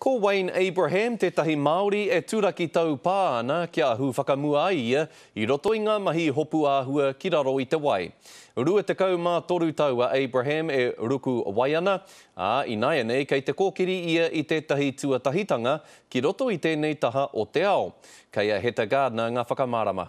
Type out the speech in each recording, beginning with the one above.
Ko Wayne Abraham tētahi Māori e turaki taupā ana kia ahu whakamua ai ia i roto i ngā mahi hopu āhua ki raro i te wai. 23 tau a Abraham e ruku wai ana, ā, ināianei kei te kōkiri ia i tētahi tuatahitanga ki roto i tēnei taha o te ao. Kei a Heta Gardner ngā whakamārama.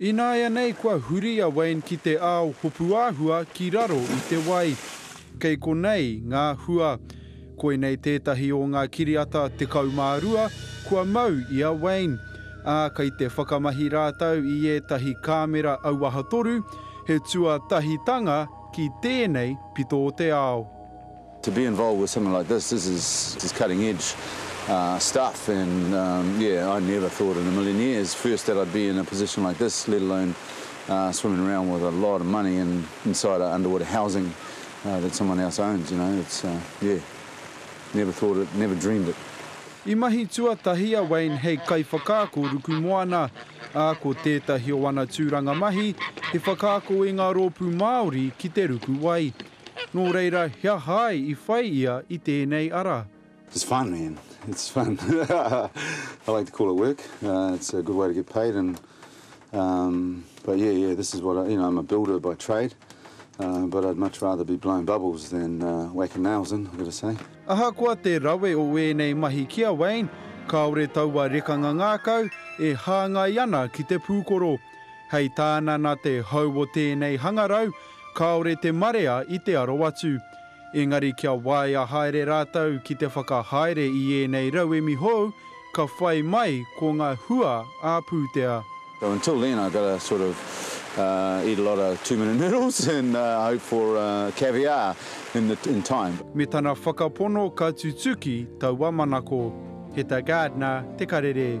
Ināianei kua huri a Wayne ki te ao hopuāhua ki raro i te wai. Kei konei ngā hua. Koinei tētahi o ngā kiriata 12 kua mau i a Wayne, ā, kei te whakamahi rātou i ētahi kāmera auaha toru, he tuatahitanga ki tēnei pito o te ao. To be involved with something like this, this is cutting edge stuff and yeah I never thought in a million years first that I'd be in a position like this let alone swimming around with a lot of money in inside a underwater housing that someone else owns you know it's yeah never thought it never dreamed it. I mahi tuatahi a Wayne hei kaiwhakaako ruku moana, ā, ko tētahi o ana tūranga mahi he whakaako i ngā rōpū Māori ki te ruku wai. Nō reira, he aha ai i whai ia i tēnei ara? It's fun man, it's fun. I like to call it work, it's a good way to get paid and um but yeah, yeah, this is what I, you know, I'm a builder by trade um but I'd much rather be blowing bubbles than whacking nails in, I've got to say. Ahakoa te rawe o ēnei mahi ki a Wayne, kāore taua rekanga ngākau e hāngai ana ki te pūkoro. Hei tāna nā te hou o tēnei hangarau, Kāore te marea i te aro atu. Engari kia waea haere rātou ki te whakahaere i ēnei rauemi hou, ka whai mai ko ngā hua ā-pūtea. So until then I've got to sort of eat a lot of two minute noodles and hope for caviar in the in time. Me tana whakapono ka tutuki taua manako. He ta gardener te karere.